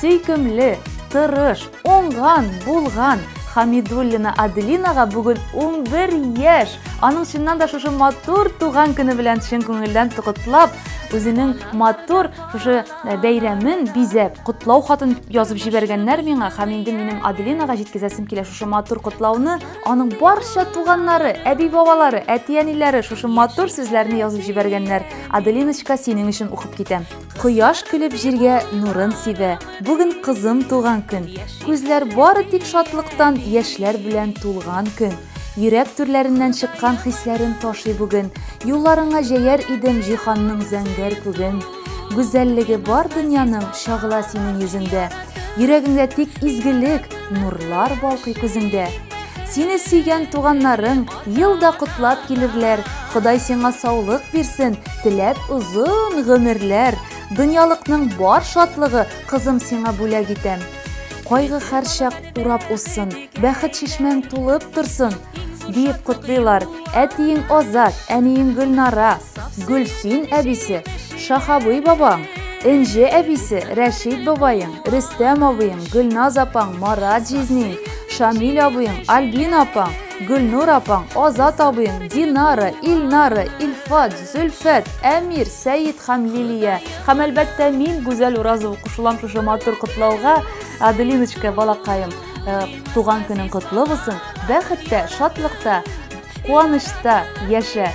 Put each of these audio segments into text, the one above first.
Сөйкемле, тырыш, оңган, булган Хамидуллина Аделинага бүген 11 яшь. Аның чыннан да шушы матур туган көне белән чын күңелдән тукытлап, үзенең матур шушы э, бәйрәмен бизәп, котлау хатын язып җибәргәннәр миңа һәм инде минем Аделинага җиткезәсем килә шушы матур котлауны. Аның барча туганнары, әби-бабалары, әти-әниләре шушы матур сүзләрне язып җибәргәннәр. Аделиночка, синең өчен укып китәм. Кояш көлеп җиргә нурын сибә. Бүген кызым туган көн. Күзләр бары тик шатлыктан, яшьләр белән тулган көн. Йөрәк түрләреннән чыккан хисләрем ташый бүген. Юлларыңа җәяр идем җиһанның зәңгәр күген. Гүзәллеге бар дөньяның чагыла синең йөзеңдә. Йөрәгеңдә тик изгелек, нурлар балкый күзеңдә. Сине сөйгән туганнарың ел да котлап килерләр. Ходай сиңа саулык бирсен, теләп озын гомерләр. Дөньялыкның бар шатлыгы кызым сиңа бүләк итәм. Кайгы һәрчак урап узсын, бәхет чишмәң тулып торсын. Диеп котлыйлар, әтиең Азат, әниең Гөлнара, Гөлсин әбисе, Шахабый бабаң, Энҗе әбисе, Рәшит бабаең, Рөстәм абыең, Гөлназ апаң, Марат җизниң, Шамил абыең, Альбина апаң, Гөлнур апаң, Азат абыең, Динара, Илнара, Илфат, Зөлфәт, Әмир, Сәет һәм Лилия. Һәм әлбәттә мин, Гүзәл Уразова кушылам шушы матур котлауга. Аделиночка, балакаем. Э, туган көнең котлы булсын бәхеттә шатлыкта куанычта яшә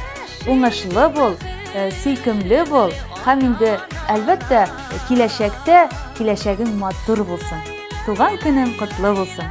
уңышлы бул э, сөйкемле бул һәм инде әлбәттә киләчәктә киләчәгең матур булсын туган көнең котлы булсын